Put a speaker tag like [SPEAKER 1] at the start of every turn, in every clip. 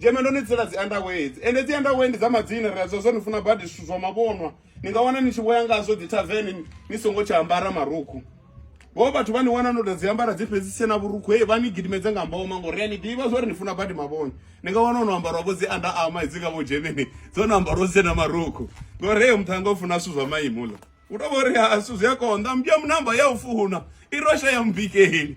[SPEAKER 1] dzheme ndo ni tsela dzi andawedzi ende dzi andawe ndi dza madzina ri a zwa zwa ni funa badi zwithu zwa mavhonwa ni nga wana ni tshi vhoya ngazwo dzi tavern ni songo tsha ambara marukhu vho vhathu vha ni wana no to dzi ambara dzi fhedzi tsena vhurukhu hei vha ni gidimedze nga mboma ngori a ni ḓivha zwori ni funa badi mavhona ni nga wana ono ambarwa vho dzi anda ama hedzi nga vho dzhemeni dzo no ambarwa tsena marukhu ngori heyo muthanga u funa zwithu zwa maimo ḽa u to vhori ha zwithu zwi a konḓa mbya munamba ya u funa i rosha ya mubikeni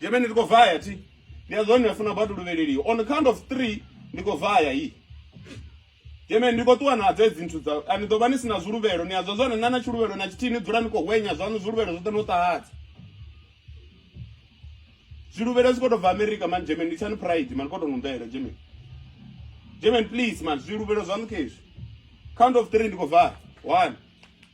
[SPEAKER 1] Jemeni ndi khou vaya thi. Ndi a zwone funa batu luvheleli. On the count of 3 ndi khou vaya hi. Jemeni ndi khou ṱuwa na dze dzinthu dza ani ḓo vha ni sina zwiluvhelo ni a zwa zwone na na tshiluvhelo na tshithihi ni dzula ni khou hwenya zwanu zwiluvhelo zwoṱhe no ṱahadza. Zwiluvhelo zwi khou tou bva America man Jemeni ndi tshani pride man khou tou nombela Jemeni. Jemeni please man zwiluvhelo zwanu khezwi. Count of 3 ndi khou vaya. 1